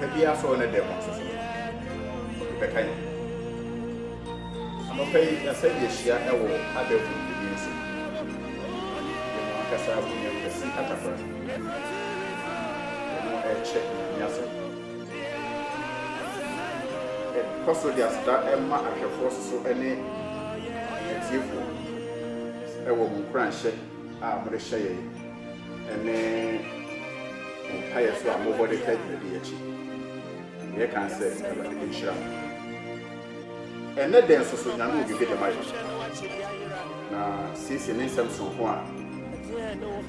Anɔpa biara sɛ ɔne dɛm nso so no, ɔde bɛka yɛn. Anɔpa yi, yɛasɛ yɛahyia wɔ adagum biribi ase. Yɛn mu ankasa abu yɛn kwasi atakora, na yɛne no rekyɛ Nyame asɛm. Yɛkɔ so de aseda ma ahwɛfoɔ so so ne atiefoɔ wɔ mo nkuranhyɛ a mode hyɛ yɛn ne mo mpaeɛ so a mobɔ de taa dwumadi yi akyi. Yɛ kan sɛ Awurade nhyira mo. Ɛnɛ dɛn nso so nyame obi bi de ma yɛn. Na siesie ne nsɛm sonko a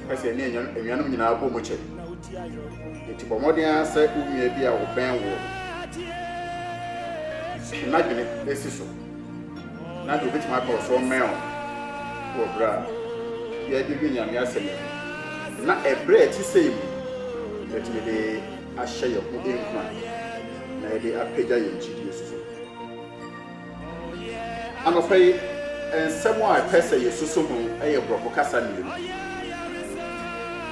pɛ sɛ ɛne anuanom nyinaa bɔ mu kyɛ. Enti bɔ mmɔden ara sɛ wo nua bi a wɔbɛn woɔ no n'adwene si so. na deɛ ɔbɛtumi aka ɔsoro mmɛn wo wɔ berɛ a yɛde dwe Nyame asɛm yi ho, na ɛberɛ a ɛte sei mu yɛtumi de ahyɛ yɛn ho nkura na yɛde apagya yɛn gyidie soso. Anɔpa yi, nsɛm a ɛpɛ sɛ yɛsoso ho yɛ borɔfo kasa mmienu.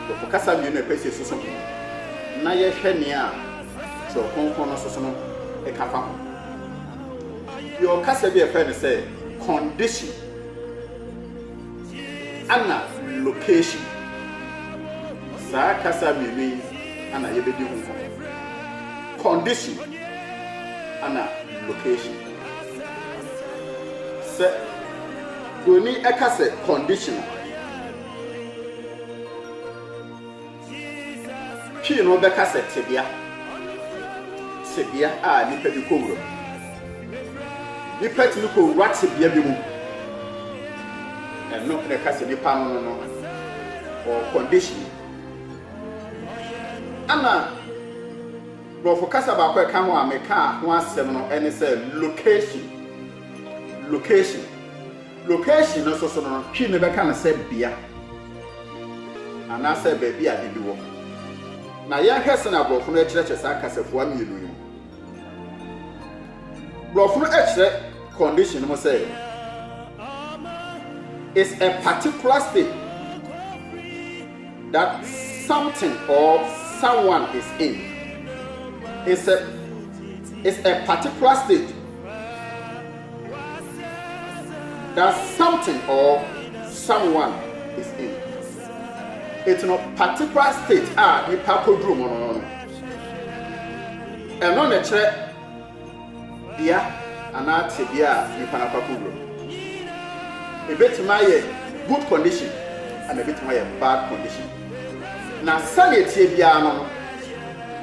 Borɔfo kasa mmienu a ɛpɛ sɛ yɛsoso ho na yɛhwɛ nea Twerɛ Kronkron no soso no ka fa ho. Yɛwɔ kasa bi a yɛfrɛ no sɛ condition ana location. Saa kasa mmienu yi ana yɛbɛdi ho nkɔmmɔ. Condition ana location. Sɛ buroni ɛka sɛ condition a, Twi no bɛka sɛ tebea, tebea a nnipa bi kowura mu. Nnipa tumi kowura tebea bi mu. Ɛno na ɛka sɛ nnipa no no no wɔ condition. Ɛna Borɔfo kasa baako ɛka ho a meka ho asɛm no ɛne sɛ location. Location. Location no nso so no, Twi no bɛka no sɛ bea anaasɛ baabi a ade bi wɔ. Na yɛnhwɛ sɛnea Borɔfo no kyerɛkyerɛ saa kasafua mmienu yi mu. Borɔfo no kyerɛ condition no mu sɛ it's a particular state that something or someone is in. It's a, it's a particular state. That something or someone is in it no particular state a nipa koduru mu no no no. Ɛno na ɛkyerɛ bea anaa tebea a nipa no akɔ akɔwura mu. Ebetumi ayɛ good condition ɛna ebetumi ayɛ bad condition. Na sɛnea etie biara no no,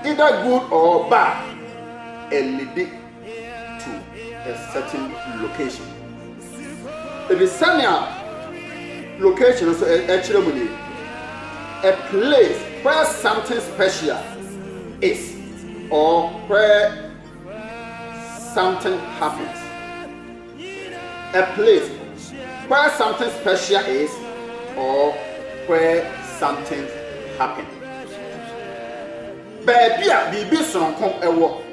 either good or bad, ɛnidi to a certain location. Ɛfiri sɛnea location nso ɛkyerɛ mu nie, a place where something special is or where something happens. A place where something special is or where something happens. Baabi a biribi soronko ɛwɔ.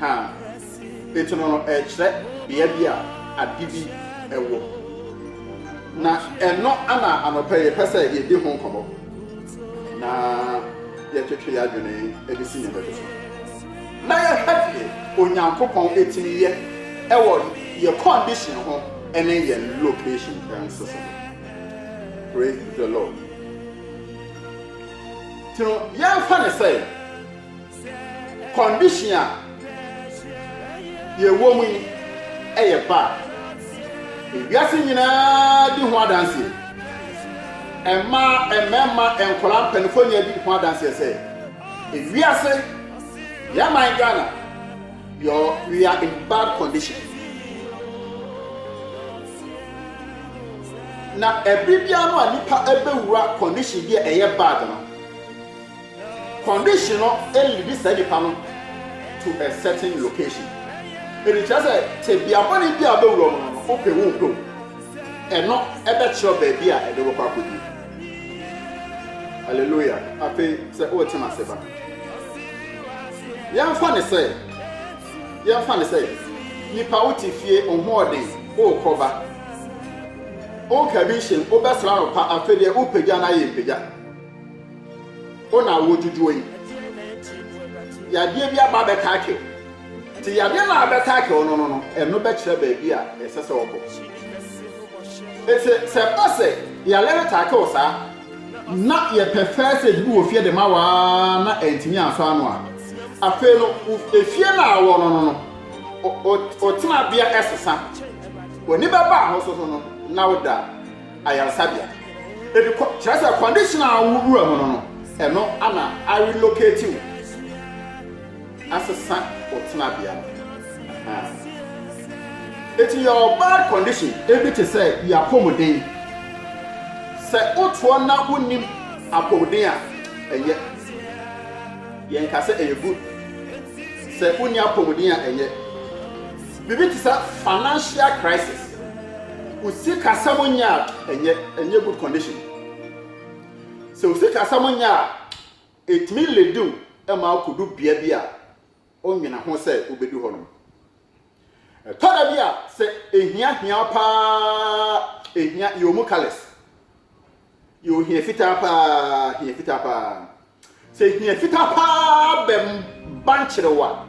Ha, etono no rekyerɛ bea bi a ade bi wɔ. Na ɛno na anɔpa yi yɛpɛ sɛ yɛdi ho nkɔmmɔ na yɛtwetwe yɛn adwene de si nneɛma bi so. Na yɛhwɛ deɛ Onyankopɔn tumi yɛ wɔ yɛ condition ho ne yɛ location nso so. Praise the Lord. Nti no, yɛmfa no sɛ condition a yɛwɔ mu yi yɛ bad. Ewiase nyinaa di ho adanseɛ. Mmaa, mmarima, nkwadaa, mpanimfoɔ nyinaa di ho adanseɛ sɛ ewiase, yɛn man Ghana, Your we are in bad condition na ɛbere biara no a nipa ɛbɛwura condition bi a ɛyɛ bad no condition no ɛlidi saa nipa no to a certain location ɛdi kyerɛ sɛ tebea bɔne bi a bɛwura mu no wopɛ wo mpɛ wo ɛno ɛbɛkyerɛ baabi a ɛde wɔkɔ akɔdi Hallelujah. Afei sɛ wote m'ase ba. Yɛmfa ne sɛ, yɛmfa ne sɛ, nipa wo te fie ɔhoɔden, wokɔ ba. Wonka bi nhyɛ mu, wobɛsra no pa, afei deɛ wopagya no ayɛ mpagya. Wo na wodwudwoɔ yi. Yadeɛ bi aba bɛka akew. Te yadeɛ no a bɛtaake ɔno no no, ɛno bɛkyerɛ baabi a ɛsɛ sɛ ɔkɔ. Ete sɛ ɛba sɛ yareɛ no taake wo saa, na yɛpɛ first aid bi wɔ fie de ma wo ara na antumi ansɔ ano a, afei no efie no a wɔ no no no wo tenabea ɛsesa. W'ani bɛba ho so so no na woda ayaresabea. Ebi kɔ, kyerɛ sɛ condition a wowura mu no no, ɛno ana a relocate wo. asesa wo tenabea no ahaa. Eti your bad condition ebi te sɛ your apɔmuden. Sɛ wotoɔ na wonnim apɔmuden a, ɛnyɛ. Yɛn ka sɛ ɛyɛ good. Sɛ wonni apɔmuden a ɛnyɛ. Biribi te sɛ financial crisis. Wo sikasɛm nyɛ a, ɛnyɛ. Ɛnyɛ good condition. Sɛ wo sikasɛm nyɛ a. Etumi lidi wo ma akodu bea bi a wonnwene ho sɛ wubedu hɔ no. Ɛtɔ da bi a sɛ ehia hia wo paa ehia yɛ omu colours. Yɛ ohia fitaa paa, hia fitaa paa. Sɛ hia fitaa paa bɛban kyere wo a,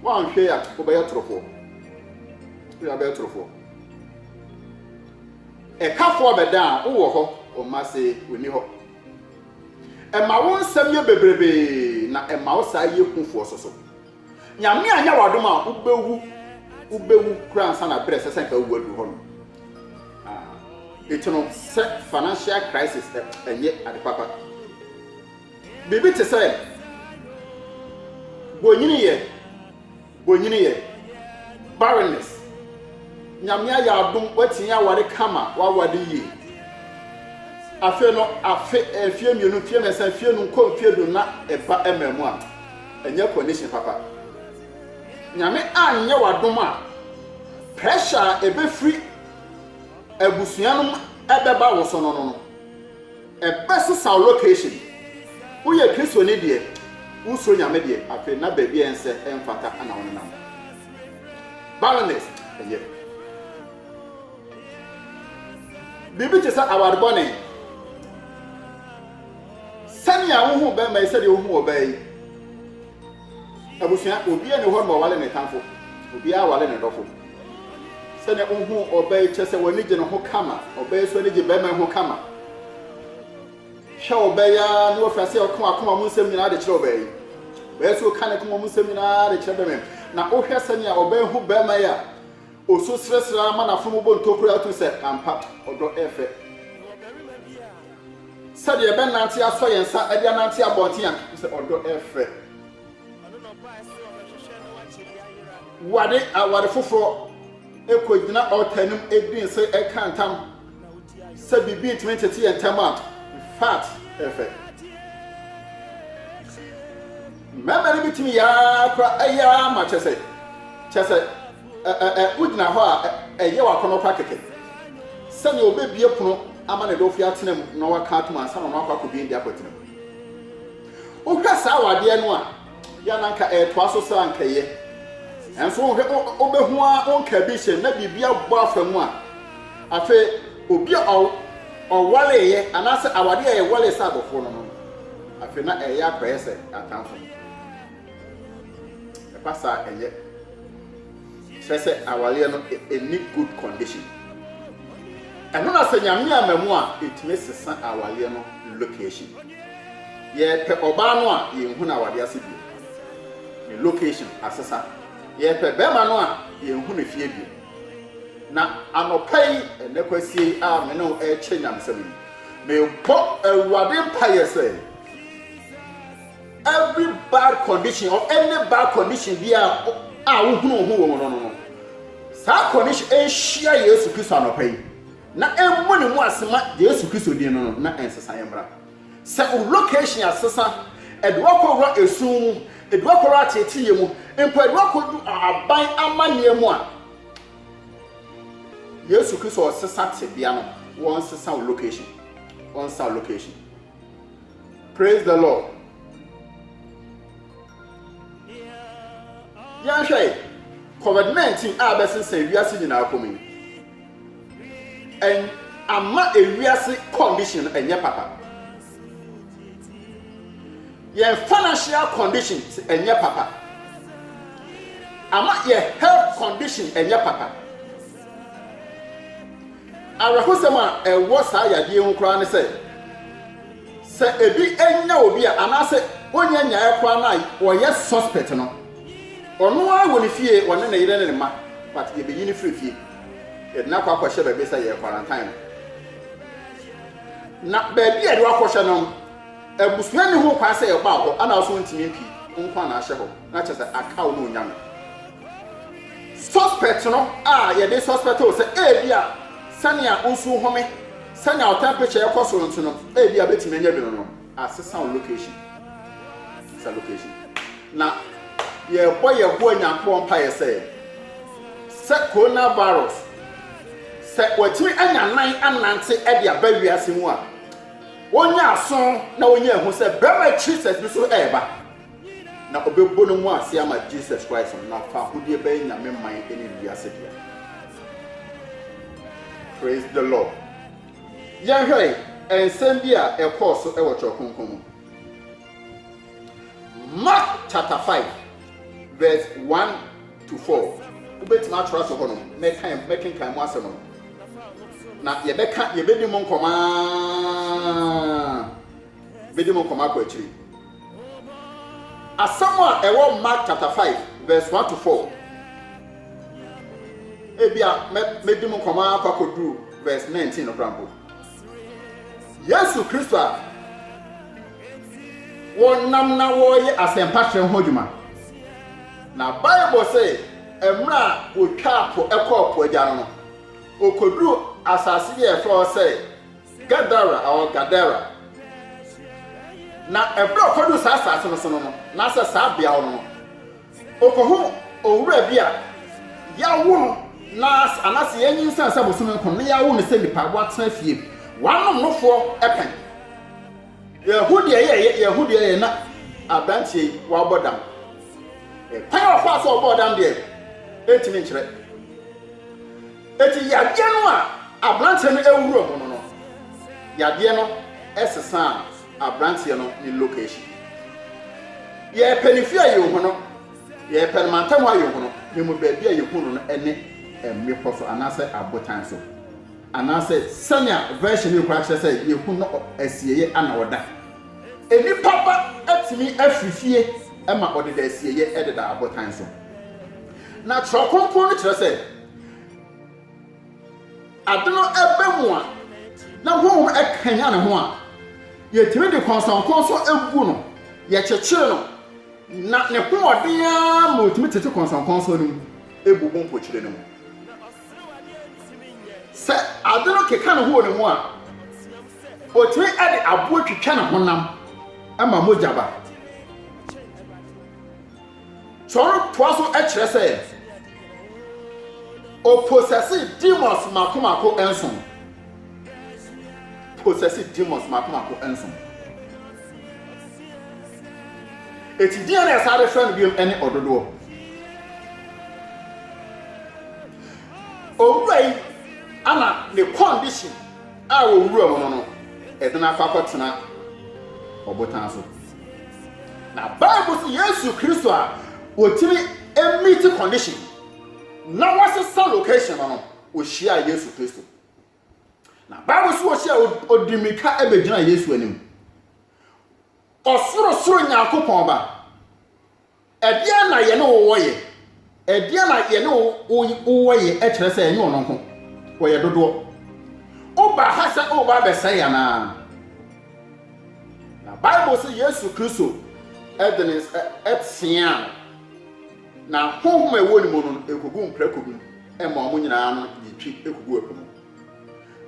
woanhwɛ a wobɛyɛ torofoɔ. Woyɛ abɛyɛ torofoɔ. Ɛkafoɔ bɛda a wowɔ hɔ, wo mma se wonni hɔ. Ɛma wo nsɛm yɛ bebrebe na ɛma wo saa yɛ hu foɔ soso. Nyame anyɛ wo adom a wobɛwu wobɛwu kura ansa na berɛ ɛsɛ sɛ nka wowu aduru hɔ no. Ah, eti no sɛ financial crisis ɛ ɛnyɛ ade papa. Biribi te sɛ bonyini yɛ. W'anyini yɛ barrenness. Nyame ayɛ adom w'atumi aware kama w'aware yie. Afei no afe mfie mmienu mfie mmiɛnsa mfie num kɔ mfie du na ɛba ɛma mu a ɛnyɛ condition papa. Nyame anyɛ w'adom a pressure a ɛbɛfiri abusua no mu ɛbɛba wo so no no no. Ɛbɛsesa wo location. Woyɛ Kristoni deɛ, wosuro Nyame deɛ, afei na baabi a ɛnsɛ, ɛmfata na wonenam. Barrenness, ɛyɛ biribi te sɛ aware bɔne. Sɛnea wohu bɛrima yi, sɛdeɛ wohu ɔbaa yi, Abusua, obiaa nni hɔ no ma ɔwale ne tamfo, obiaa wale ne dɔfo. Sɛnea wohu ɔbaa yi kyerɛ sɛ w'ani gye ne ho kama, ɔbaa yi so ani gye bɛɛma yi ho kama. Hwɛ ɔbaa yi ara na wafiri ase a ɔka w'akoma mu nsɛm nyinaa de kyerɛ ɔbaa yi. Ɔbaa yi so ka ne koma mu nsɛm nyinaa de kyerɛ bɛɛma yi. Na wohwɛ sɛnea ɔbaa yi hu bɛɛma yi a, Osu serɛserɛ ara ma n'afono mu bɔ ntokuru a ɛto sɛ, Ampa, ɔdɔ yɛ fɛ sɛ deɛ yɛbɛnante asɔ yɛn nsa de anante abɔnten a, ɛto sɛ, ɔdɔ yɛ fɛ. Ware aware foforɔ kɔgyina ɔɔta anim di nse ka ntam sɛ biribi ntumi ntete yɛn ntam a, infact, ɛyɛ fɛ. Mmarima no bi tumi yɛ ara koraa, ɛyɛ ara ma kyɛ sɛ, kyɛ sɛ. Ɛ, ɛ, ɛ, wogyina hɔ a, ɛ, ɛyɛ w'akɔnnɔ kwa kɛkɛ. Sɛnea obebue pono ama ne dɔfo atena mu na waka atom ansa na ɔno akɔ akobue de akɔtena mu. Wohwɛ saa wɔ adeɛ no a, yɛ na nka ɛretoa so saa nka ɛyɛ. Nanso wohwɛ, wobehu a wonka ebi hyɛ na biribi abɔ afa mu a, afei obi a ɔw, ɔwaleeɛ anaasɛ awadeɛ a ɛwalee sɛ adɔfoɔ no no, afei na ɛyɛ akɔyɛ sɛ atamfo. Ɛba saa a ɛyɛ kyerɛ sɛ awareɛ no ɛnni good condition. Ɛno na sɛ Nyame amma mu a ɛtumi sesa awareɛ no location. Yɛpɛ ɔbaa no a yɛnhu no awareɛ ase bio. Ne location asesa. Yɛpɛ bɛrima no a yɛnhu ne fie bio. Na anɔpa yi ɛnɛ kwasie yi a me ne wo ɛrekyɛ nyamesɛm yi, mebɔ Awurade mpaeɛ sɛ Every bad condition or any bad condition bi a a wohunu wo ho wɔ mu no no no, saa condition nhyia Yesu Kristo anɔpa yi, na ɛmmu ne mu ase ma Yesu Kristo din no no, na nsesaeɛ mmra. Sɛ wo location asesa, ɛde wo akɔwura esum mu, ɛde wo akɔwura ateeteeɛ mu, mpo ɛde wo akɔdu aban amanneɛ mu a, Yesu Kristo ɔsesa tebea no, wɔnsesa wo location, wɔnsesa wo location. Praise the Lord. Yɛnhwɛ yi, COVID-19 a bɛsensɛn wiase nyinaa kɔm yi, ɛn ama ewiase condition no ɛnyɛ papa. Yɛn financial condition ɛnyɛ papa. Ama yɛ health condition ɛnyɛ papa. Awerɛhosɛm a ɛwɔ saa yadeɛ yi ho koraa ne sɛ, sɛ ebi nya obi a anaasɛ ɔnya nyaeɛ koraa no a ɔyɛ suspect no, ɔno ara wɔ ne fie, ɔne ne yere ne ne mma, but yɛbɛyi no firi fie, yɛde no akɔ akɔhyɛ baabi sɛ yɛ quarantine no. Na baabi a yɛde wakɔhyɛ no no, abusua nni ho kwan sɛ ɛba hɔ, ɛna nso ɔntumi mpue, nko ara na ahyɛ hɔ, na kyerɛ sɛ akaw na ɔnya no. Suspect no a yɛde suspect wo sɛ ebia sɛnea wo nsu home, sɛnea wo temperature ɛkɔ soro nti no, ebia betumi anya bi no no, asesa wo location. Asesa location. Na yɛbɔ Yehowa Nyankopɔn mpaeɛ sɛ sɛ coronavirus sɛ watumi anya nan anante de aba wiase mu a, wɔnya aso na wɔnya ehu sɛ bɛrima Jesus bi so ɛreba. na ɔbɛbu ne ho ase ama Jesus Christ no, na faahodie bɛyɛ Nyame man ne wiase dea. Praise the Lord. Yɛnhwɛ nsɛm bi a ɛkɔɔ so wɔ Twerɛ Kronkron mu. Mark chapter 5 verse 1 to 4. Wobɛtumi atwerɛ ato hɔ no, mɛkenkan mu asɛm no. Na yɛbɛka, yɛbɛdi mu nkɔmaa. Mede mo kɔma kɔ akyiri. Asɛm a ɛwɔ Mark chapter 5 verse 1 to 4. Ebia mede mo kɔma akɔ akɔduru verse 19 no koraa mpo. Yesu Kristo a wɔnam na wɔreyɛ asɛmpa kyerɛ ho adwuma. Na Bible sɛ mmerɛ a wɔtwaa po kɔɔ po agya no no, ɔkɔduruu asase bi a ɛfrɛ hɔ sɛ Gadara, or Gadara. Na ɛberɛ a ɔkɔduu saa asaase no so no no, anaasɛ saa beaɔ no no, ɔkɔhu owura bi a yawo no na, anaasɛ yanyinsɛn sɛ bosome nko na yawo no sɛ nipa, watena fie, wanom no foɔ pɛn. Yahu deɛ yɛyɛ, yahu deɛ yɛyɛ, na aberanteɛ yi wabɔ dam. Kwan a ɔfaa so ɔbɔɔ dam deɛ, ɛntumi nkyerɛ. Enti yadeɛ no a aberanteɛ no awura mu no no, yadeɛ no sesaa aberanteɛ no ne location. Yɛrepɛ ne fie a yɛnhu no, yɛrepɛ no mantam hɔ a yɛnhu no, yɛmu baabi a yɛhu no no ne mmepɔ so anaasɛ abotan so, anaasɛ sɛnea version yi koraa kyerɛ sɛ yɛhu no asieeɛ a na ɔda. Nnipa ba atumi afiri fie ma ɔdeda asieeɛ deda abotan so. Na Twerɛ Kronkron no kyerɛ sɛ, ade no ba mu a, na honhom kanyan ne ho a, yɛtumi de kɔnsɔnkɔnsɔn gu no, yɛkyekyere no, na ne hoɔden ara ma ɔtumi tete kɔnsɔnkɔnsɔn no mu ɛbu ho mpokyerɛ no mu. Sɛ ade no keka ne ho wɔ ne mu a, ɔtumi de aboɔ twitwa ne honam ma mogya ba. So ɔretoa so kyerɛ sɛ ɔposɛse demons mmaako mmaako nson? Posɛse demons mmaako mmaako nson. Eti deɛ na ɛsan bɛfrɛ no biom ne ɔdodoɔ. Owura yi ana ne condition a wɔwura mu no no ɛde no akɔ akɔtena ɔbotan so. Na Bible sɛ Yesu Kristo a wɔtumi meet condition na wɔasesa location no no, wɔhyiaa Yesu Kristo. Na Bible sɛ wɔhyia ɔdi mmirika bɛgyina Yesu anim. Ɔsorosoro Nyankopɔn ba Ɛdeɛn na yɛne wo wɔ yɛ? Ɛdeɛn na yɛne wo wɔ yɛ kyerɛ sɛ ɛnyɛ ɔno nko, wɔyɛ dodoɔ. Wobaa ha sɛ woreba abɛsɛe yɛn anaa? Na Bible se Yesu Kristo de ne nsa teaa no, na honhom a ɛwɔ ne mu no kɔguu mprako mu maa wɔn nyinaa no yii twi kɔguu ɛpo mu.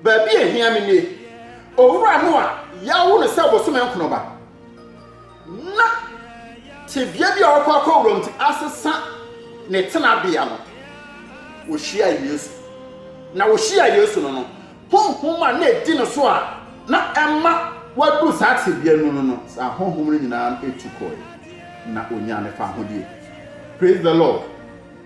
Baabi a ehia me nie. Owura no a yɛawo no sɛ bosome nkron ba na tebea bi a ɔrekɔ akɔwura mu nti asesa ne tenabea no, ohyiaa Yesu. Na ohyiaa Yesu no no, honhom a na edi no so a na ɛma wadu saa tebea no no no, saa honhom no nyinaa tu kɔe, na onyaa ne fahodie. Praise the Lord.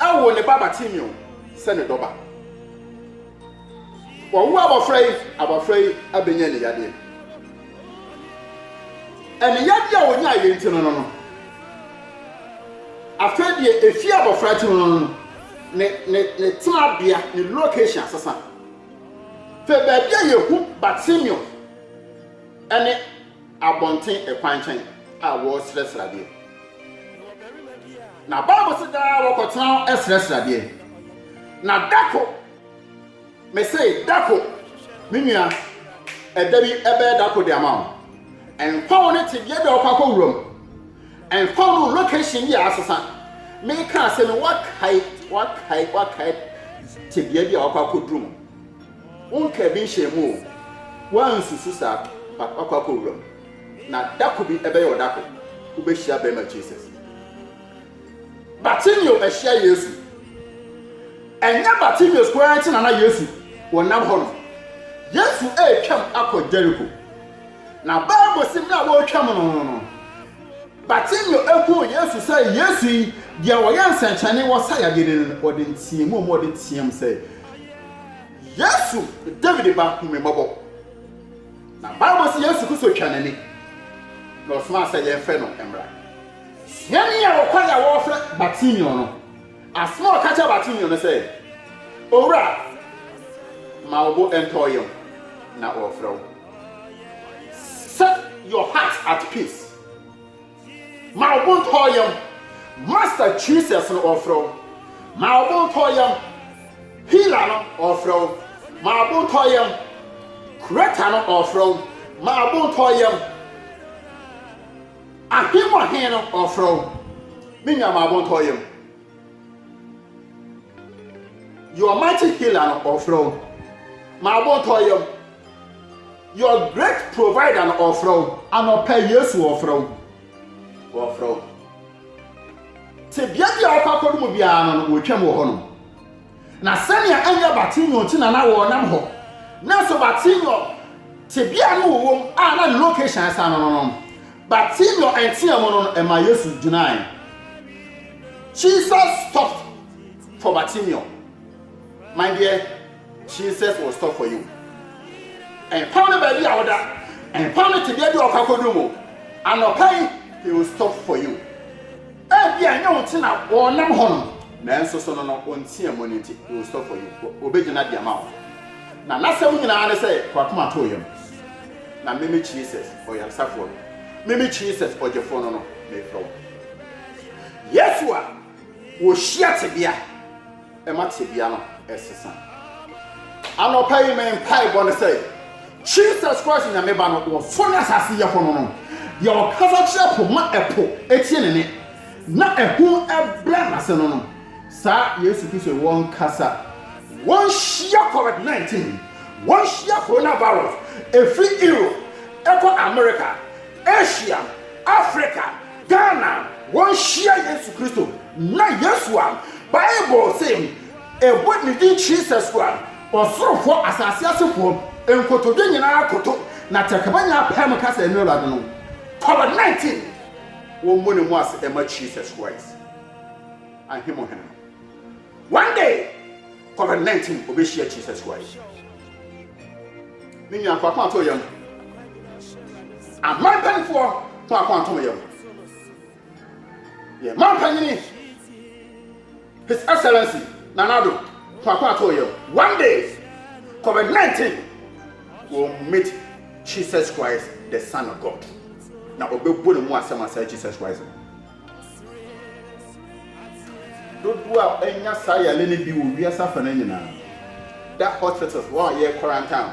woo ne ba Bartimeo sɛ ne dɔba. Wɔwo abɔfra yi, abɔfra yi abɛnya aniyadeɛ. Aniyadeɛ a ɔnya ayɛ nti no no no, afei deɛ ɛfie abɔfra ti no no no, ne, ne, ne tenabea, ne location asesa. Fɛ baabi a yɛhu Bartimeo ne abɔnten kwan kyɛn a wɔresrɛsrɛ adeɛ. Na Bible se daa wɔkɔtena hɔ srɛsrɛ adeɛ. Na dako, mese dako, me nua, ɛda bi ɛbɛyɛ dako de ama wo. Ɛmfa wo ne tebea bi a wɔkɔ akɔ wuram. Ɛmfa wo ne location bi a asesa. Meka asɛm yi wakae, wakae, wakae tebea bi a wɔkɔ akɔduru mu. Wonkaa bi nhyɛɛ mu o, woansusu saa but wakɔ akɔ wura mu na dako bi ɛbɛyɛ wo dako wobɛhyia bɛɛma Jesus. Bartimeo ahyia Yesu. Ɛnyɛ Bartimeo koraa nti na na Yesu wɔ nam hɔ no. Yesu ɛretwam akɔ Jericho. Na Bible se mmerɛ a wɔretwam no no no, Bartimeo ɛhuu Yesu sɛ Yesu yi deɛ ɔyɛ nsɛnkyerɛnne wɔ saa yadeɛ no no ɔde nteamu a ɔde team sɛ Yesu, David ba, hu me mmɔbɔ. Na Bible sɛ Yesu Kristo twa n'ani, na ɔsomaa sɛ yɛmfrɛ no mmra. Suani a ɔkɔ yɛ a wɔfrɛ Bartimeo no, asɛm a ɔka kyerɛ Bartimeo no sɛ, Owura, ma wo bo ntɔ yam, na ɔrefrɛ wo. Set your heart at peace. Ma ɔbo ntɔ yam. Master Jesus no ɔfrɛ wo. Ma ɔbo ntɔ yam. Healer no ɔfrɛ wo. Ma ɔbo ntɔ yam. Creator no ɔfrɛ wo. Ma ɔbo ntɔ yam. Ahemmu Ahen no ɔfrɛ wo. Me nua ma ɔbo ntɔ yam. Your mighty healer no ɔfrɛ wo. M'abotɔ yam. Your great provider no ɔfrɛ wo. Anɔpɛ Yesu ɔfrɛ wo. Ɔfrɛ wo. Tebea bi a ɔkɔ akɔdo mu biara no no wɔtwam wɔ hɔnom. Na sɛnea ɛnyɛ Bartimeo nti na na wɔnam hɔ, nanso Bartimeo tebea no wɔwɔ mu a na ne location asan no no no, Bartimeo nteaa mu no no ɛma Yesu gyinae. Jesus stopped for Bartimeo. My dear, Jesus will stop for you. Ɛmfa no baabi a woda, ɛmfa no tebea bi a ɔkɔ akɔdu mu, anɔpa yi, he will stop for you. Ebia ɛnyɛ wo ti na wɔnam hɔ no, nanso so no no wo nteɛ mu no nti, he will stop for you, ɔbɛgyina de ama wo. Na n'asɛm nyinaa ne sɛ, Fa w'akoma to wo yam, na meme Jesus, ɔyaresafoɔ no, meme Jesus, ɔgyefoɔ no no, merefrɛ wo. Yesu a wɔhyia tebea. ma tebea no sesa. Anɔpa yi me mpaebɔ ne sɛ Jesus Christ Nyame Ba no wɔfɔ ne asase yɛfɔ no no, deɛ ɔkasa kyerɛ po ma ɛpo tie ne nne na ahum brɛ n'ase no no, saa Yesu Kristo wɔnkasa, wɔnhyia covid 19, wɔnhyia coronavirus ɛfiri Europe ɛkɔ America, Asia, Africa, Dɛn na wonhyia Yesu Kristo? Ná Yesu a Bible se ɛbɔ ne din Jesus no a ɔsorofoɔ, asase asefoɔ nkotodwe nyinaa koto na tɛkrɛma nyinaa pae mu ka sɛ ɛno Awurade no. Covid 19 Wɔmmɔ ne mu ase mma Jesus Christ, Ahemuhene no. One day covid 19 obehyia Jesus Christ. Me nua fa kwan to yam. Aman panifoɔ fa kwan to yam. Yɛ man panyini His Excellency Nanado fa kwan to yam. One day covid 19 will meet Jesus Christ the Son of God. Na obebu ne mu asɛm asɛe Jesus Christ. Dodoɔ a ɛnya saa yare no bi wɔ wiase afanan nyinaa da hospitals hɔ a yɛ quarantine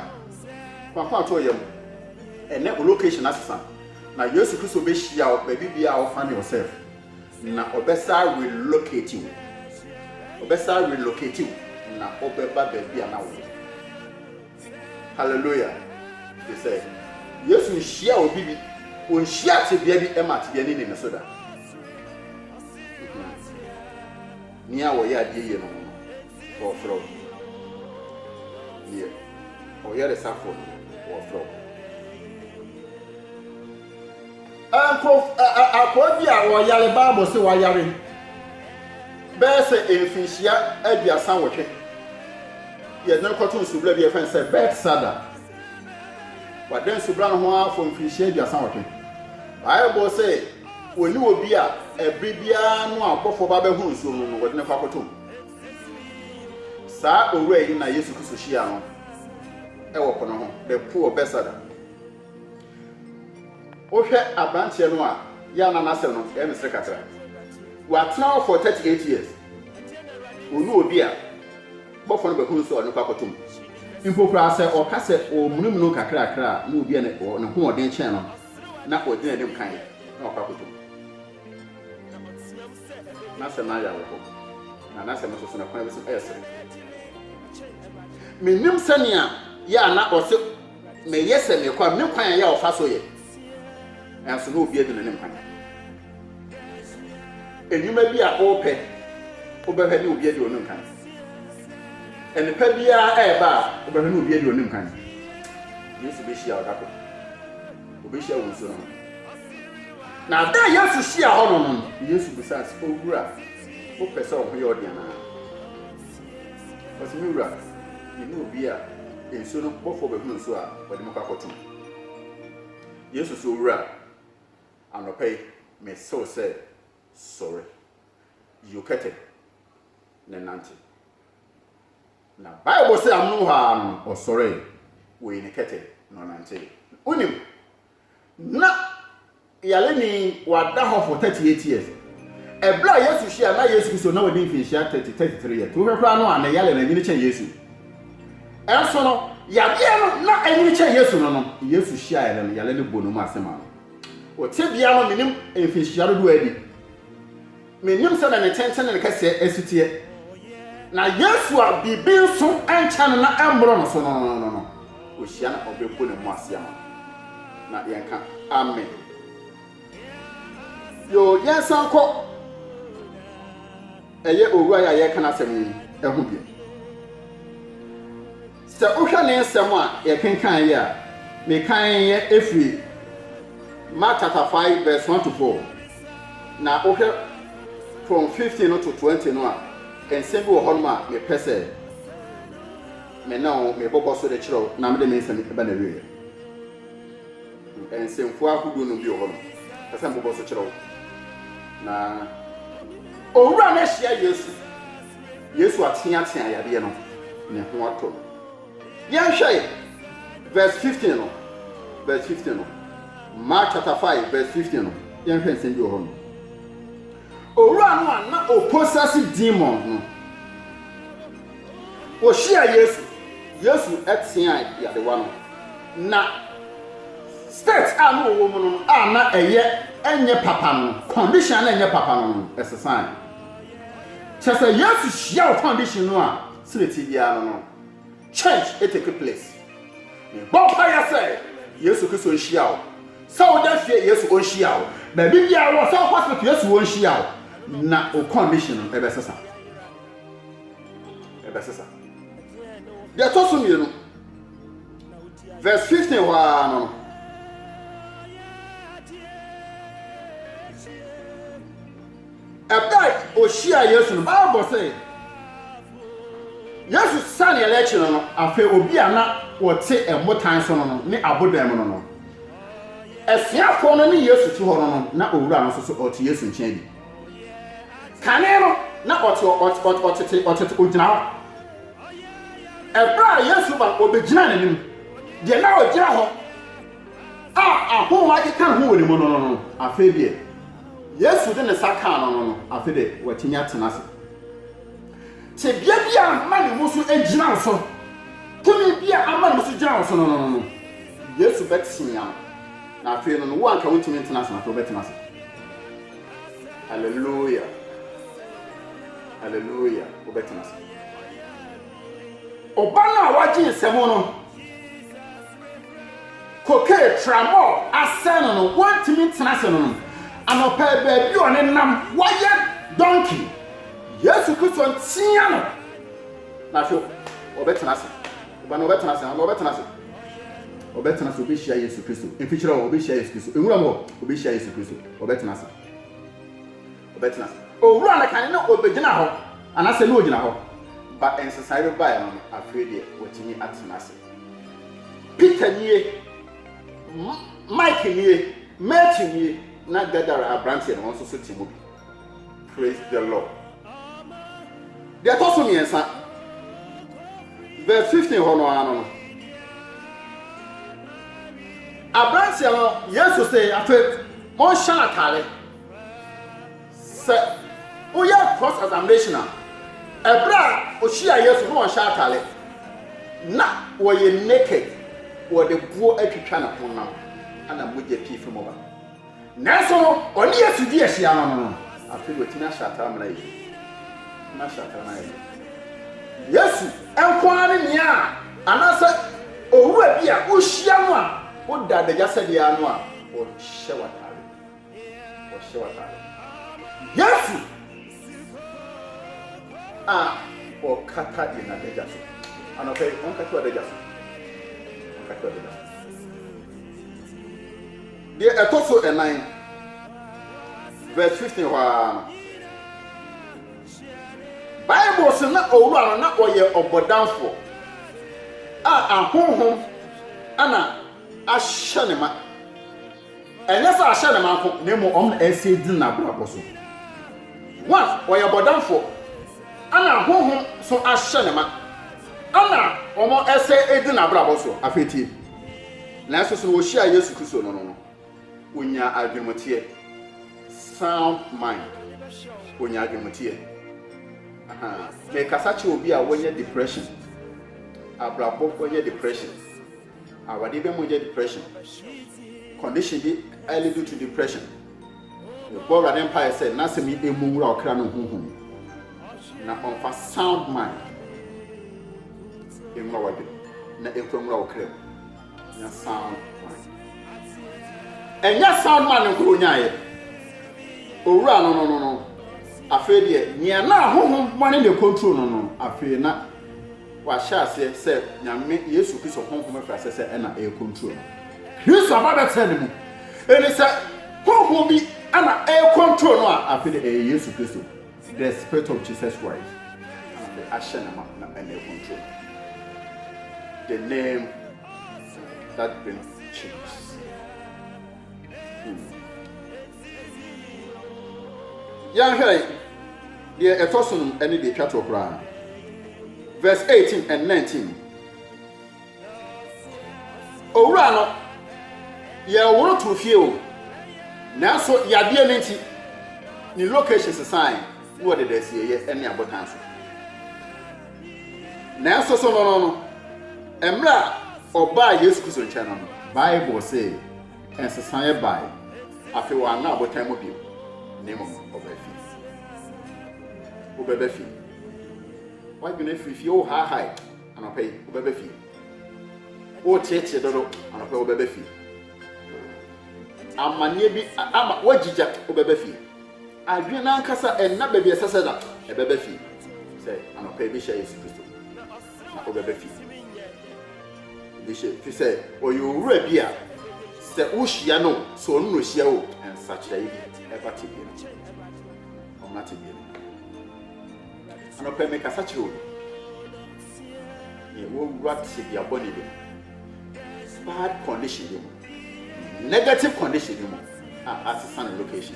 no faako a too yam. Ɛnnɛ wo location asesa na Yesu Kristo bɛhyia wo baabi biara a wo find yourself na ɔbɛsan relocate wo. Ɔbɛsan relocate wo na ɔbɛba baabi a na wo wɔ. Hallelujah! Te sɛ Yesu nhyiaa obi bi, onhyiaa tebea bi ma tebea no nni ne so da. Nea ɔyɛ adeɛ yie no ho no, wɔfrɛ wo. Deɛ ɔyɛ resafoɔ no, wɔfrɛ wo. Nkurɔfo, ɛ, akoa bi a ɔyare, Bible se wayare bɛyɛ sɛ mfinhyia aduasa nwɔtwe. Yɛde no kɔto nsubura bi a yɛfrɛ no sɛ Betsada. Wada nsubura no ho ara for mfinhyia aduasa nwɔtwe. Bible se wɔne obi a ɛbere biara no a ɔbɔfoɔ ba bɛhono nsuo no no, wɔde no kɔ akɔto mu. Saa owura yi na Yesu Kristo hyiaa no wɔ po no ho, the pool of Betsada. Wohwɛ aberanteɛ no a, yɛ a na n'asɛm no yɛ ne serekatra. Watena hɔ for 38 years. Ɔnu obi a, bɔfoɔ no bɛhunu so a ɔde no kɔ akɔto mu. Mpo koraa sɛ ɔka sɛ ɔremunumunu kakrakra a, na obi a ne hoɔden kyɛn no na ɔgyina anim kan na wakɔ akɔto mu. N'asɛm no ayɛ awerɛhɔ, na n'asɛm no nso so no, ɛkwan bi so no, ɛyɛ sere. Mennim sɛnea yɛ a na ɔse Meyɛ sɛ mekɔ a, me kwan a ɛyɛ a ɔfa so yɛ, nanso na obi adi n'anim kan. Nnwuma bi a ɔrepɛ wobɛhwɛ ne obi adi ɔnim kan. Nnepa biara ɛreba a wobɛhwɛ ne obi adi ɔnim kan. Yesu bɛhyia wo da koro. Ɔbɛhyia wo nsuo no ho. Na ada a Yesu hyia hɔ no no, Yesu bisaa sɛ, Owura, wopɛ sɛ wo ho yɛ ɔde anaa? Ɔse me wura yɛnni obi a nsuo no bɔfoɔ bɛhunu nsuo a ɔde me kɔ akɔto mu. Yesu se owura anɔpa yi mese wo sɛ sɔre, yi wo kɛtɛ ne nante. Na bible se amonom hɔ ara no ɔsɔree, ɔyii ne kɛtɛ na ɔnantee. Wonim? Ná yareni yi wada hɔ for thirty eight years. Bere a Yesu hyiae no, na Yesu Kristo na wadi mfinhyia thirty, thirty three years. Wohwɛ koraa no a, ne yare no anyini kyɛn Yesu. Nanso no, yadeɛ no na anyini kyɛn Yesu no no, Yesu hyiaeɛ no no, yare no bɔɔ ne mu ase ma no. Wɔ tebea no, menim mfinhyia dodoɔ a adi. Minnim sɛnea ne tenten ne ne kɛseɛ si teɛ. Na Yesu a biribi nso nkyɛ no na ɛmmoro no so no no, ɔhyia na ɔbɛbu ne ho ase ama no. Na yɛnka, Amen. Yoo, yɛnsan kɔ ɛyɛ owura yi a yɛreka n'asɛm yi ho bio. Sɛ wohwɛ ne nsɛm a yɛkenkan yi a, mekaeɛ ɛfiri Mark chapter five verse one to four, na wohwɛ from fifteen no to twenty no a, nsɛm bi wɔ hɔnom a mepɛ sɛ me ne wo mebobɔ so de kyerɛ wo na mede me nsɛm ba n'awieɛ. Nsɛmfua ahodoɔ nom bi wɔ hɔnom pɛ sɛ mebobɔ so kyerɛ wo na. Owura no ahyia Yesu Yesu ateatea yadeɛ no, ne ho atɔ no. Yɛnhwɛ verse 15 no, verse 15 no, Mark chapter 5 verse 15 no, yɛnhwɛ nsɛm bi wɔ hɔ no. Owura no a na ɔposase demons no, wɔhyia Yesu, Yesu tea yadewa no, na state a na ɔwɔ mu no a na ɛyɛ ɛnyɛ papa no, condition a na ɛnyɛ papa no no, ɛsesae. Kyerɛ sɛ Yesu hyia wo condition no a sɛnea ɛte biara no no change take place. Mebɔ mpaeɛ sɛ Yesu Kristo nhyia wo. Sɛ woda fie Yesu ɔnhyia wo. Baabi biara wɔ sɛ hospital Yesu ɔnhyia wo na wo condition no ɛbɛsesa. Ɛbɛsesa. Deɛ ɛtɔ so mmienu verse 15 hɔ ara no no Bere a ohyiaa Yesu no, Bible se, Yesu sianee n'akyi no no, afei obi a na ɔte mmotan so no no ne abodan mu no no. Asuafo no ne Yesu te hɔ no no, na owura no nso so ɔte Yesu nkyɛn bi. Kane no, na ɔte ɔtete ɔtete ogyina hɔ. Bere a Yesu ba no, obegyinaa n'anim. Deɛ na ogyina hɔ. a ahom akekã ho wɔ no mu no no no, afei deɛ, Yesu de ne nsa kaa no no no, afei deɛ, watumi atena ase. Tebea bi a ama ne mu so agyina wo so, tumi bi a ama ne mu so gyina wo so no no no no, Yesu bɛtee ano, na afei no no, wo anka wontumi ntena ase, na afei wobɛtena ase. Hallelujah. Hallelujah. Wobɛtena ase. Ɔba no a wagye nsɛm no, Cocaine, Trammol, asɛe no no, wantumi ntena ase no no. Anɔpa yi, baabi a ɔne nam, wayɛ donkey. Yesu Kristo ntea no. Na afei, ɔbɛtena ase. Ɔba na ɔbɛtena ase, na ɔbɛtena ase. Ɔbɛtena ase, ɔbɛhyia Yesu Kristo. Mfikyerɛ hɔ, ɔbɛhyia Yesu Kristo. Nwura mu hɔ, ɔbɛhyia Yesu Kristo. Ɔbɛtena ase. Ɔbɛtena ase. Owura no kan na ɔbɛgyina hɔ, anaasɛ na ɔgyina hɔ. Ba nsesaeɛ no baeɛ no no, afei deɛ, watumi atena ase. Peter nie, Mike nie, Matthew nie, na Gadara aberanteɛ no wɔn nso so te mu bi. Praise the Lord. Deɛ ɛtɔ so mmiɛnsa, verse 15 hɔ no ara no no. Aberanteɛ no, Yesu se, afei monhyɛ no atare. Sɛ woyɛ cross examination a, ɛberɛ a ɔhyiaa Yesu na ɔnhyɛ atare, na ɔyɛ naked, wɔde boɔ atwitwa ne honam na mogya pii firi mu ba. Nanso no, ɔne Yesu di ahyia no no, afei de watumi ahyɛ atare ama no ayɛ yie. Watumi ahyɛ atare ama no ayɛ yie. Yesu nko ara ne nea anaasɛ owura bi a wohyia no a woda adagya sɛdeɛ ano a ɔhyɛ w'atare. wɔhyɛ w'atade. Yesu a ɔkata yɛn adagya so. Anɔpa yi, ɔnkata w'adagya so. Ɔnkata w'adagya so. Deɛ ɛtɔ so ɛnan, verse 15 hɔ ara no, Bible so na owura no na ɔyɛ ɔbɔdamfoɔ a ahonhom ana ahyɛ ne ma. Ɛnyɛ sɛ ahyɛ ne ma nko, na mmom wɔn na ɛsɛ egyina n'abrabɔ so. Wɔn a wɔyɛ bɔdamfoɔ na honhom nso ahyɛ ne ma na wɔn ɛsɛ edi n'abrabɔ so. Afei tie. Nanso so na wɔhyiaa Yesu Kristo no no no? Onyaa adwenemuteɛ, sound mind. Onyaa adwenemuteɛ. Aha. Mekasa kyerɛ obi a wanya depression, abrabɔ wanya depression. Awade bɛ mogya depression condition bi ɛle due to depression yɛbɔ awurade mpaeɛ sɛ n'asɛm yi ɛmu nwura ɔkra no huhu mu na ɔmfa sound mind ɛnwura wadwene na ɛkura nwura ɔkra mu nya sound mind ɛnyɛ sound mind nkoro nyaeɛ owura no no no no afei deɛ nea na ahohom mɔne ne control no no afei na Wahyɛ aseɛ sɛ Nyame Yesu Kristo Honhom firi aseɛ sɛ ɛna ɛrekontro no. Kristo aba bɛtena ne mu. Enti sɛ Honhom bi ɛna ɛrekontro no a, afei deɛ ɛyɛ Yesu Kristo, the Spirit of Jesus Christ, ɛna afei ahyɛ no ma na ɛna ɛrekontro no. The name that brings change. Hmm. Yɛnhwɛ deɛ ɛtɔ so nom ɛne deɛ ɛtwa toɔ koraa no. Verse 18 and 19. Owura no, yɛworo too fie o, nanso yadeɛ no nti, ne location sesae na wɔde dasieyɛ ne abotan so. Nanso so no no no, mmerɛ a ɔbaa Yesu Kristo nkyɛn no no, Bible se, Nsesaeɛ baeɛ. Afei wanna abotan mu bio, na mmom ɔbaa fie. Wobɛba fie. W'adwene afiri fie, wohaahae anɔpa yi, wobɛba fie. Woteetee dodo anɔpa yi, wobɛba fie. Amanneɛ bi ama woagyigya, wobɛba fie. Adwene no ankasa ɛnna baabi ɛsɛ sɛ da, ɛbɛba fie. Sɛ anɔpa yi bɛhyia Yesu Kristo. na ɔbɛba fi mu. Efisɛ ɔyɛ owura bi a sɛ wuhyia no o, sɛ ɔno na ohyia wo o, nsakyerae bi ba tebea no mu. Ɔmmra tebea no mu. Anɔpa yi mekasa kyerɛ obi. Nea wawura tebea bɔne bi mu. bad condition bi mu, negative condition bi mu a asesa ne location.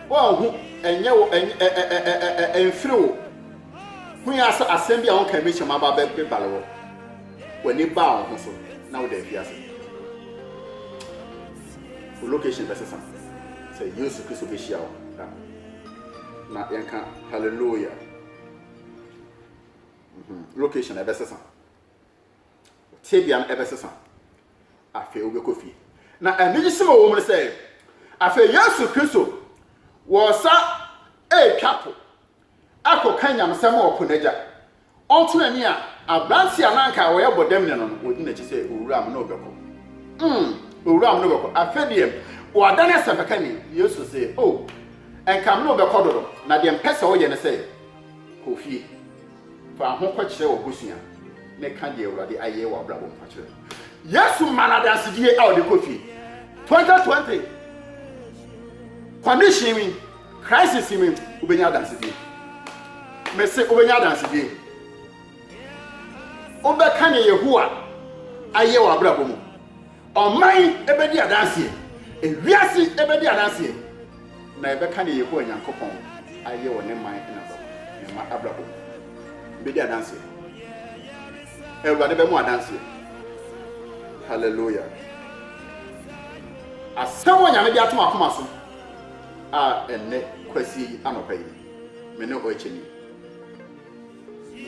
Wɔnhu ɛnyɛ wo ɛmfiri wo ho yɛ asɛ asɛm bi a wɔn kɛmɛkyɛm aba bɛbale wɔ w'ani baa wɔn ho so na wode afi ase. Wo location bɛsesa sɛ Yesu Kristo bɛhyia wo na yɛnka hallelujah. location ɛbɛsesa tebea no ɛbɛsesa afei wobɛkɔ fie na anigye sɛm a wɔwɔ mu no sɛ afei yesu kristo wɔsa ɛretwa po akɔka nyamesɛm a ɔpo n'agya ɔnto n'ani a aberante a na anka ɔyɛ bɔdam ne no no wɔdi n'akyi sɛ owura m na ɔbɛkɔ mm owura m na ɔbɛkɔ afei deɛ wɔada no asɛmpakani yesu sɛ o oh, ɛnka m na ɔbɛkɔ dodo na deɛ mpɛ sɛ ɔyɛ no sɛ Kɔ fie, fa ahokɔ kyerɛ w'abusua, ne ka deɛ Awurade ayɛ wɔ w'abrabɔ mu fa kyerɛ no. Yesu ma no adansedie a ɔde kɔ fie. 2020 condition mi, crisis mi, wobɛnya adansedie. Mese wobɛnya adansedie. Wobɛka ne Yehowa ayɛ wɔ abrabɔ mu. Ɔman bɛdi adanseɛ, ewiase bɛdi adanseɛ, na yɛbɛka deɛ Yehowa Nyankopɔn ayɛ wɔ ne man na wɔ ne mma abrabɔ mu. Yɛbɛdi adanseɛ. Awurade bɛmo adanseɛ. Hallelujah. Asɛm wɔ Nyame de atom akoma so a ɛnɛ kwasie yi anɔpa yi, me ne ɔɛkyɛni.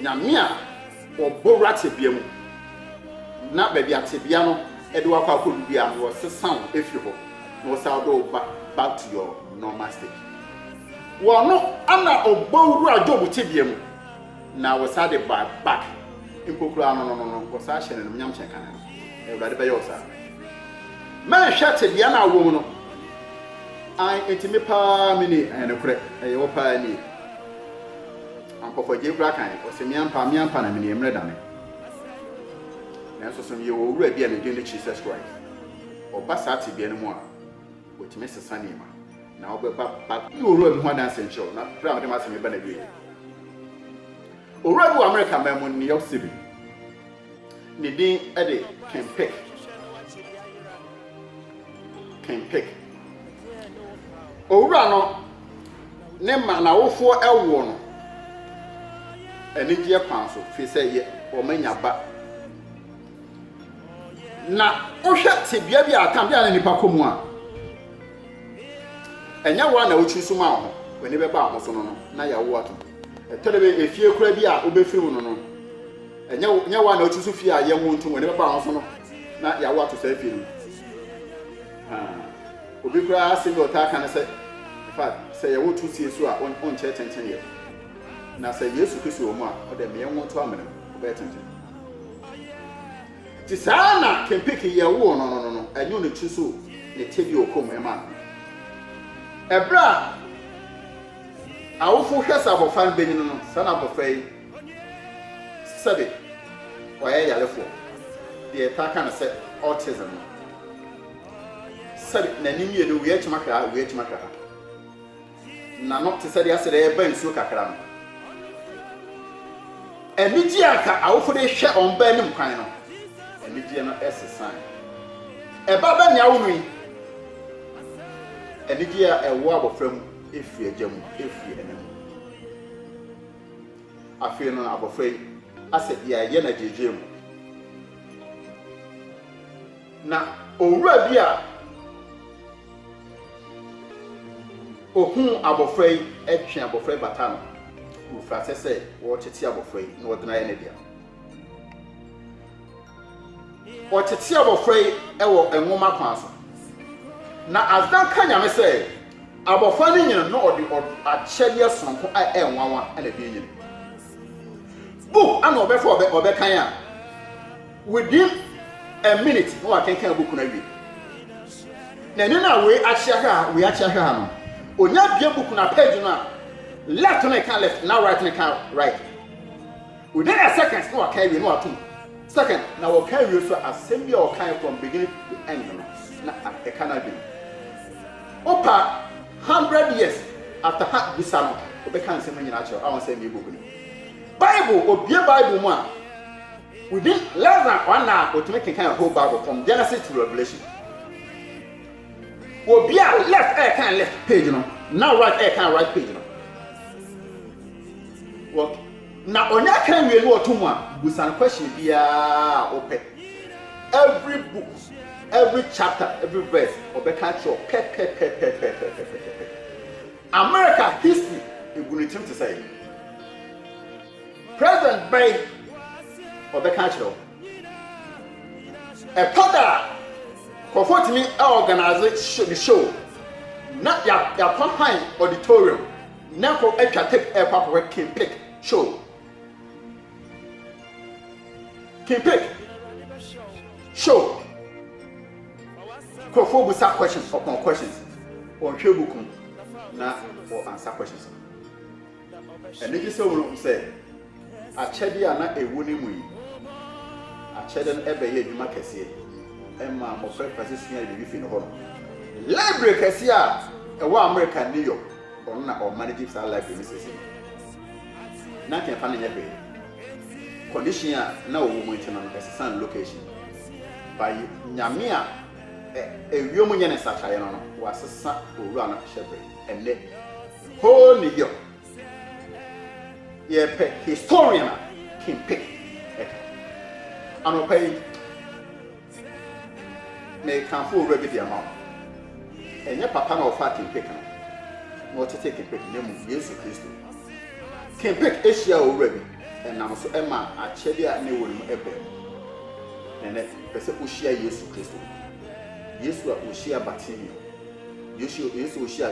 Nyame a ɔbɔ wura tebea mu na baabi a tebea no de wo akɔ akɔdu biara no ɔsesa wo firi hɔ na ɔsan ɔde wo ba back to your normal state. Ɔno na ɔbɔ wura Job tebea mu na ɔsan de ba back mpo koraa no no no no ɔsan hyɛ no animuonyam kyɛn kane no. Awurade bɛyɛ wo saa. Mɛnhwɛ tebea no a wowɔ mu no. Ae, enti me paa me nie. Ɛyɛ nokorɛ, ɛyɛ wo paa nie. Ampa fa gyei kora kan, ɔse me ampa, me ampa na mene yɛ mmerɛ dame Nanso so meyɛ owura bi a ne din ne Jesus Christ Ɔba saa tebea no mu a, ɔtumi sesa nneɛma Na wobɛba ba bɛdi owura bi ho adanseɛ nkyerɛ wo Na berɛ a mede m'asɛm reba n'awieɛ, owura bi wɔ Amerika man mu ne York City, Ne din de Ken Pick. Ken Pick. Owura no ne ma n'awofoɔ ɛwoɔ no anigyeɛ kwan so fi sɛ yɛ wɔn anya ba. Na wohwɛ tebea bi a atam bi a ne nipa kɔ mu a ɛnyɛ wɔn a na wotiri so ma ho w'ani bɛba ho so no no na yɛawo ato. Ɛtɔ de bɛ efie kura bi a wobɛfiri mu no no Ɛnyɛ wo nyɛ wo a na wosusu fie a yɛnwo ntom w'ani bɛba ho so no na yɛawo ato saa fie no mu? Haa. Obi koraa asɛm bi a ɔtaa ka ne sɛ, ɛfa sɛ yɛwo to sie so a wonkyɛ tentene ɛ. Na sɛ Yesu Kristo wɔ mu a, ɔde ɛmɛ yɛnwo nto amena mu, ɔbɛyɛ tenten. Nti saa na Kempeke yɛwoo no no no no, ɛnyɛ ne tiri so ne tɛ bi ɔkɔm ɛma no. Ɛberɛ a awofo hwɛ sɛ abɔfra no bɛnyini no, saa na abɔfra yi Sɛbe ɔyɛ yarefoɔ, deɛ yɛtaa ka no sɛ autism no, sɛbe n'ani mmienu wia kyima hwɛ ha, wia kyima hwɛ ha, n'ano te sɛ deɛ asɛ dɛ ɛreba nsuo kakra no. Anigyeɛ a ka awofo de hwɛ wɔn ba anim kwan no, anigyeɛ no sesae. Ɛba bɛ nea awo no yi, anigyeɛ a ɛwɔ abɔfra mu firi agya mu, firi ɛna mu. Afei no abɔfra yi asɛ bia yɛ na gyegye mu. Na owura bi a ohun abɔfra yi ɛtwe abɔfra yi bata no wofrasɛ sɛ wɔɔkyekye abɔfra yi na ɔdena yɛ ne dea. Wɔtete abɔfra yi wɔ nwoma kwan so, na Asdan ka Nyame sɛ abɔfra no nyini na ɔde akyɛdeɛ sononko a ɛyɛ nwanwa na ɛde anyini. Book ana ɔbɛfa ɔbɛkan a within a minute na wakenkan book no awie. Na ɛne na wei akyea hwɛ ha, wei akyea hwɛ ha no, onya bie book na page no a left no ka left na right no ka right. Within a second na waka awie na wato mu. Second. Na wɔka awie nso a, asɛm bi a wɔkae from beginning to end no, na ɛka n'adwene mu. Wopa hundred years after ha bisa no, ɔbɛka nsɛm no nyinaa akyerɛ wo a ɔnsɛ mmea book no mu. Bible, obue Bible mu a, within less than one hour, ɔtumi kenkan a whole Bible from Genesis to Revelation. Obi a left ɛrekan left page no, na right ɛrekan right page no. Na ɔnya kan wie no ɔto mu a busa no question biara a wopɛ every book every chapter every verse ɔbɛka akyerɛ wo pɛpɛpɛpɛpɛpɛpɛpɛ America history egu ne tirim te sɛ president bɛn ɔbɛka akyerɛ wo ɛtɔ da a nkurɔfoɔ tumi organize ne show na yɛakɔ han auditorium Ná kɔ atwa tape rekɔ akɔhwɛ King Pick show. King Pick show. Nkurɔfoɔ busa questions upon questions. Wɔnhwɛ book mu na wɔ answer questions no. Ɛno gye sɛ wɔhu sɛ Akyɛde a na ɛwɔ ne mu yi, akyɛde no bɛyɛɛ adwuma kɛseɛ ɛmaa mmɔfra mfiase suaa biribi fii ne hɔ nom. Library kɛseɛ a ɛwɔ Amerika New York, ɔno na ɔmanegye saa library no seesei. Na anka ɛmfa no nyɛ hwee, condition a na ɔwɔ mu nti no, ɛsesaa ne location. By Nyame a ɛwiom nyɛ ne nsakyeraeɛ no no, wɔasesa owura no hyɛberɛ. Ɛnnɛ, whole New York yɛpɛ historian a kempe ɛka anɔpa yi mekamfo owura bi de ama wo ɛnyɛ papa na ɔfa kempe ka na ɔtete kempe na mu yesu kristo kempe ahyia owura bi ɛnam so ɛma akyɛde a ne wɔ no mu ɛbɛn mu nɛnɛ pɛ sɛ wohyia yesu kristo yesu a ɔhyia batimio yesu ɔhyia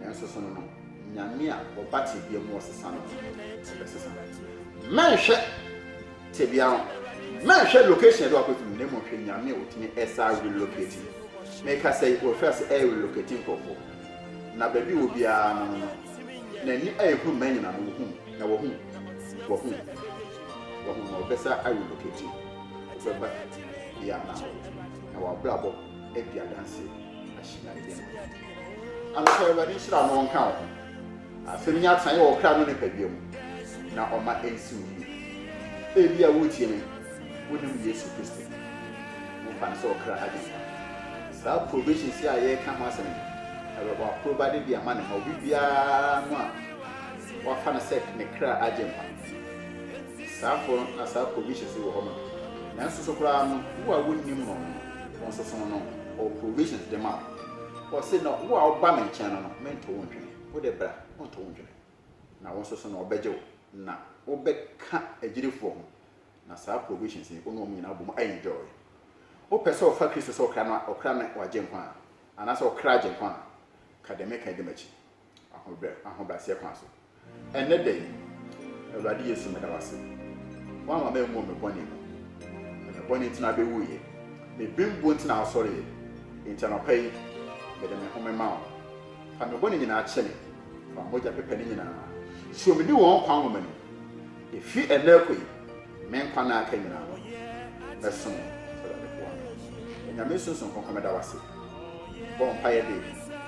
Nanso so no no, Nyame a ɔba tebea mu ɔsesa no bɛsesa? Mɛnhwɛ tebea ho, mɛnhwɛ location ɛde wakɔtu no, na mmom hwɛ Nyame a ɔtumi ɛsa relocate. Meka sɛ wɔfiri ase ɛyɛ relocate nkurɔfoɔ, na baabi wɔ biara no no, n'ani a ɛhunu mma nyina no wɔhu, na wɔhu, wɔhu, wɔhu, na ɔbɛsa relocate, ɔbɛba bia na na wabrabɔ adi adanseɛ ahyina ɛdɛm. Anɔpa Awurade nhyira no nka wo ho. Asɛm yi atenaeɛ wɔ kra no nipadua mu na ɔma ɛnsi wo yie. Ebi a woretie me, wonim Yesu Kristo. Wofa no sɛ ɔkra Agyenkwa. Saa probations yi a yɛreka ho asɛm yi, ɛyɛ w'aprobade de ama ne ma obi biara no a wafa no sɛ ne kra Agyenkwa. Saafo no na saa probations yi wɔ hɔ ma. Nanso so koraa no, wo a wonnim no no, wo nso so no, ɔwɔ probations de ma wo. Ɔse na wo a woba me nkyɛn no no mento wo ntwene, wo de bra, monto wo ntwene, na wo nso so no ɔbɛgye wo, na wo bɛ ka agyidifoɔ ho, na saa provisions yi wo ne wɔn nyinaa bɔ mu enjoy. Wo pɛ sɛ ɔfa Kristo sɛ ɔkra no a, ɔkra ne wagye nkwa a, anaasɛ ɔkra agye nkwa a, ka deɛ meka yi di m'akyi. ahobrɛaseɛ kwan so. Ɛnnɛ da yi, Awurade Yesu, meda wo ase. Woamma manwuo me bɔne mu. Na me bɔne nti na abɛwuiɛ. Me bembuo nti na wosɔreeɛ. Enti anɔpa yi, mede me ho mema wo. Fa me bɔne nyinaa kyɛ me. Fa mogya pepa ne nyinaa. Suro me ne wɔn nkwa nwoma no mu. Efi ɛnnɛ rekɔ yi, me nkwa nna aka nyinaa no, mɛsom wo. Awurade boa me. Onyame Sunsum Kronkron meda wo ase. Mebɔ mpaeɛ de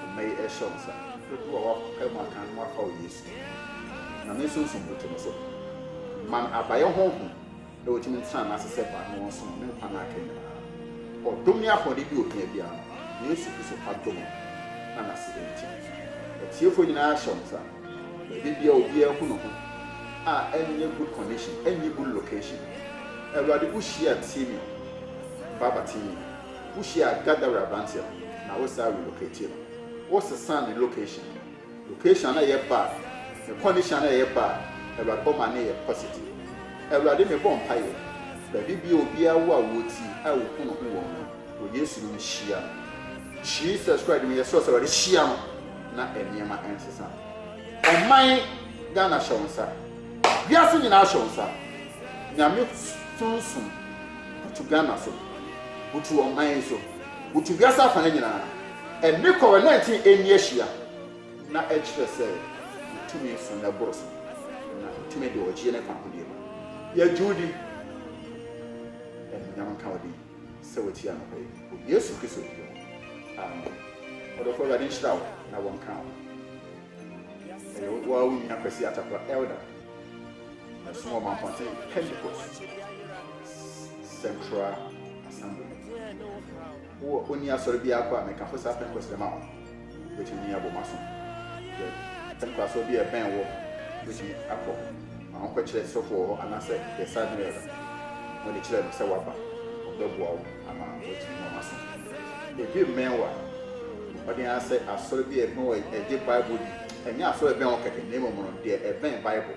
mma yi rehyɛ wo nsa. Dodoɔ a woapae mu aka no afa wo Yesu din mu. Onyame Sunsum butu no so. Ma no abayɛ Honhom na wɔtumi ntena n'ase sɛ ba na wɔnsom no ne nkwa nna aka nyinaa. Ɔdom ne ahoɔden bi ohia biara no, Yesu Kristo adom na n'ase nti. Atiefoɔ nyinaa hyɛ wo nsa. Baabi biaa obiaa hu no ho a ɛnyɛ good condition ɛnyɛ good location awurade wo hyia Timmy o Baba Timmy wo hyia Gaddafi abranteɛ no na wo saa relocate no wo sesaa ne location no location no ɛyɛ bad ne condition no ɛyɛ bad awurade ɔma no yɛ positive awurade me bɔ mpaeɛ baabi biaa obiaa wo a wo ti a wo hu no ho wɔ mu no wɔ Yesu dimu hyia no Jesus Christ dimu yɛ srɛ wo sɛ awurade hyia no. na nneɛma nsesa. Ɔman Ghana hyɛ wo nsa. Wiase nyinaa hyɛ wo nsa. Nyame sunsum butu Ghana so. Butu ɔman yi so. Butu wiase afana nyinaa. Ɛne Covid 19 ɛnni ahyia. Na ɛkyerɛ sɛ wo tumi so na ɛboro so. Na tumi deɛ ɔgyeɛ ne fakodeɛ mu. Yɛgye wo di. Anuonyam nka wo din. sɛ watie anɔpa yi, wɔ Yesu Kristo din mu, amen. Ɔdɔfo, Awurade nhyira wo na wɔnka wo. Ɛyɛ wo ara wo nua Kwasi Atakora, Elder. Mɛsom wɔ Mampɔnten Pentecost Central Assembly. Wowɔ ɔni asɔre biara kɔ a, mɛkamfo saa Pentecost dɛm a wo. Wobɛtumi de yɛn abɔ mo aso sɛ nkoasoɔ bi a ɛbɛn woɔ wobɛtumi akɔ ma wonkɔkyerɛ sɔfo wɔ hɔ anaasɛ the Southern Elder ma ɔde kyerɛ no sɛ woaba ɔbɛboa wo ama woatumi ama moaso. Ebi mmɛn wo a, bɔ mmɔden ara sɛ asɔre bi a ɛbɛn wo a ɛgye Bible di. Ɛnyɛ asɔre a ɛbɛn wo kɛkɛ na mmom no deɛ ɛbɛn Bible.